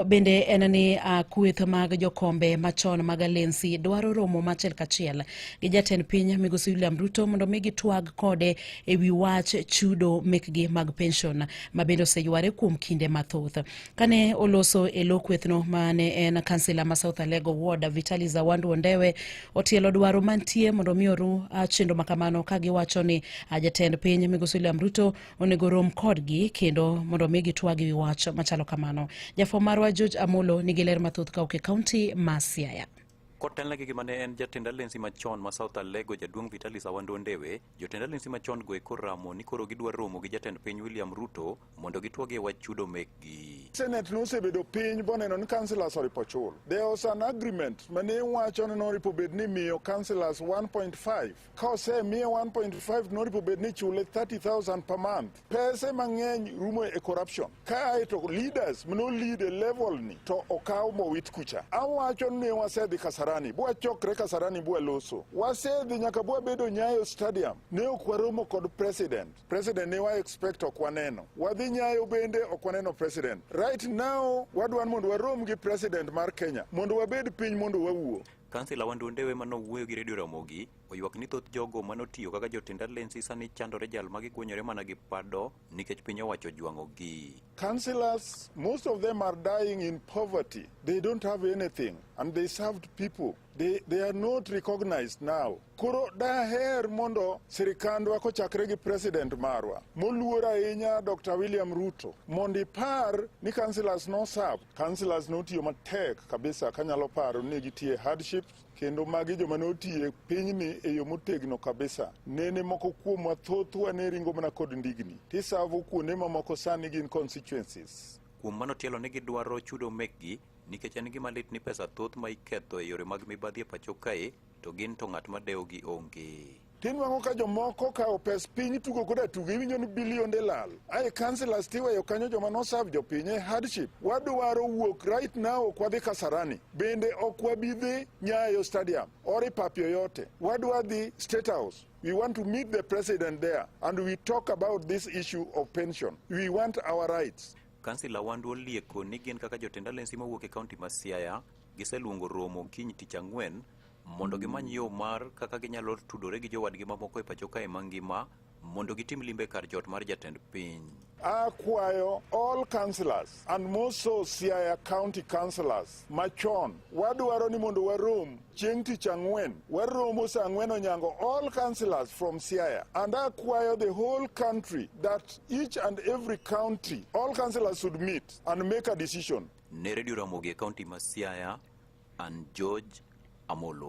Bende en ni uh, kweth mag jokombe machon mag alensi dwaro romo machiel kachiel gi jatend piny migosi William Ruto mondo mi gitwag kode e wi wach chudo mekgi mag pension ma bende oseyware kuom kinde mathoth. Kane oloso e lo kwethno mane en kansila ma South Alego Ward Vitali Zawandu Ondewe otielo dwaro mantie mondo mi oru uh, chenro makamano ka giwacho ni uh, jatend piny migosi William Ruto onego rom kodgi kendo mondo mi gitwagi wi wach machalo kamano. Jafwambo marwa George Amolo nigi ler mathoth kawuok e kaunti ma Siaya. Kotelne gi gima ne en jatend alensi machon ma South Alego jaduong' Vitalis Awando Ndewe, jotend alensi machon go e koramo ni koro gidwa romo gi jatend piny William Ruto mondo gitwagi e wach chudo mekgi. Senate nosebedo piny boneno ni councillors oripo chul. There was an agreement mane wacho ni noripo bed ni miyo councillors 1.5 Ka osemiye 1.5 noripo bed ni chule 30,000 per month. Pese mang'eny rumo e corruption. Kae to leaders mno lead e level ni to okaw mowit kucha. Awacho ni wasedhi Kasarani, bwa chokre Kasarani bwa loso. Wasedhi nyaka bwa bedo Nyayo Stadium. Ne ok waromo kod president. President ne wa expect ok waneno. Wadhi Nyayo bende ok waneno president. Right now wadwan mondo warom gi president mar Kenya mondo wabed piny mondo wawuo. Kansila Wandwo Ndewe ma nowuoyo gi Radio Ramogi oywak ni thoth jogo ma notiyo kaka jotend alensi sani chandore jal ma gikuonyore mana gi pado nikech piny owacho jwang'ogi. Councillors, most of them are dying in poverty. They don't have anything and they served people. They, they are not recognized now. Koro daher mondo sirikandwa kochakre gi president marwa moluor ahinya Dr. William Ruto mondo ipar ni councillors no serve Councillors notiyo matek kabisa kanyalo paro ni gitiye hardship kendo magi joma notiye pinyni e yo motegno kabisa. Nene moko kuomwa thothwa ne ringo mana kod ndigni tisavo kuonde mamoko sani gin constituencies. Kuom mano tielo ni gidwaro chudo mekgi nikech en gima lit ni pesa thoth ma iketho e yore mag mibadhi e pacho kae to gin to ng'at ma dewogi onge. Tinwang'o ka jomoko kawo pes piny tugo koda tugo iwinjo ni bilionde lal. Ae councillors tiweyo kanyo joma noserve jopiny e hardship. Wadwaro wuok right now ok wadhi Kasarani. Bende ok wabi dhi Nyayo Stadium or Ipapi yoyote. Wadwa dhi State House. We want to meet the president there and we talk about this issue of pension. We want our rights. Kansila Wandwo Lieko ni gin kaka jotend alensi mawuok e kaunti ma Siaya giseluongo romo kiny tich ang'wen mondo gimany yo mar kaka ginyalo tudore gi jowadgi mamoko e pacho kae mangima mondo gitim limbe kar jot mar jatend piny. Akwayo all councillors and most so Siaya county councillors machon wadwaro ni mondo warom chieng' tich ang'wen waromo sa ang'wen onyango all councillors from Siaya and akwayo the whole country that each and every county all councillors should meet and make a decision Ne Redio Ramogi e kaunti ma Siaya, an George Amolo.